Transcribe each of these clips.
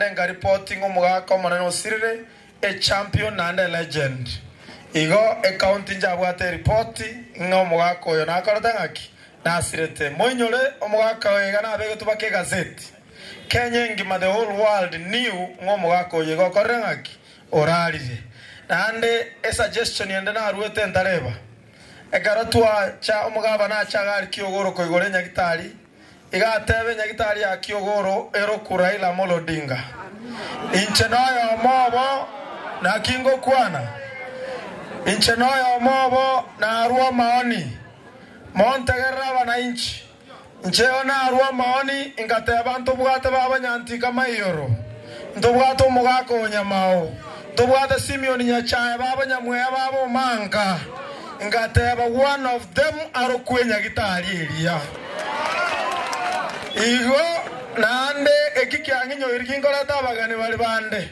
Renga ripoti ng'omogaka omonene osirire, a champion and a legend. Igo ecounty njabwate eripoti ng'a omogaka oyo nakorete ng'aki, nasirete. Moinyore omogaka oyo iga nabegetwe baka egaseti. Kenya engima the whole world knew ng'a omogaka oyo iga okorire ng'aki, orarire. Naende esuggestion ende naruete ntareba. Ekero twacha omogabana ache agarikia ogoro koigoro enyagitari. Igateebia nyagitari ya Kiogoro eroku Raila Amolo Odinga, Inche noyomo obo, naki ngokwana? Inche noyomo obo narue omaoni, montegerere abanainchi. Incheo narue omaoni ngateeba ntobwate babanyantinka maioro, ntobwate omogaka o nyamao. Tobwate Simeon nyachae b'abanyamweya ba bomanka, ngateba one of them arokwe enyagitari eria. Igo naende eki kiang'inyoiri ginkorete abageni bare bande.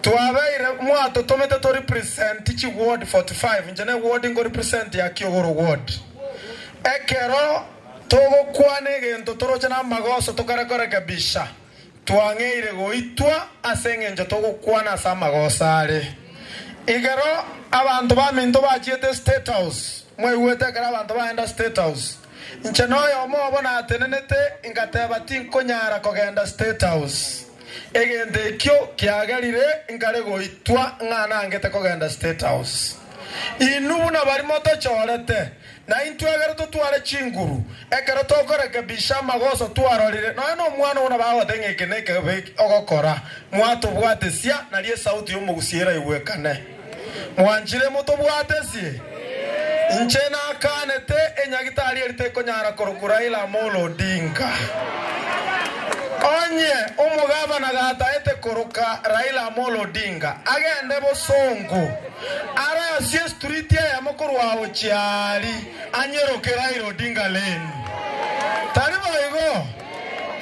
Twabeire mwatotomete to represent chi ward 45, inche ne ward nko represent ya Kiogoro ward. Ekero togokwana egento toroche namagoso tokare korekebisha. Twang'eire goitwa ase engencho togokwana ase amagoso are. Igero abanto baminto bachiete State House, mwaigwete ekero abanto bagenda State House. Inche noyomo obo natenenete ngateba tinkonyara kogenda State House. Egento ekio kiagerire nkare goitwa ng'a nangete kogenda State House. Inwe buna barimo tochorete. Na intwe ekero totware chinguru, ekero tokorekebisha amagoso twarorire, nonya nomwana oo nabo agote ng'a eke nekebe ogokora, mwatobwatesia, nario esauti y'omogusia eraigwekane. Mwanchire motobwatesie? Inche nakaanete enyagitari eri tekonyara korokwa Raila Amolo Odinga. Onye omogavana gataete koroka Raila Amolo Odinga, agende bosongo. Are ase estriti eyemo korwa gochia aria anyeroke Raila Odinga Lane. Tari boigo,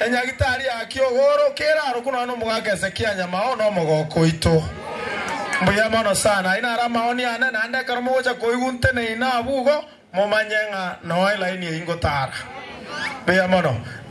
enyagitari ya kiogoro kere aro korwa nomogaka Hezekia Nyamao na omogoko oito. Mbuya mono sana. Ayio naro amaoni ane, naende ekero mogocha koigwa nteneine abwo igo, momanye ng'a noe laini eyio ngotara. Mbuya mono.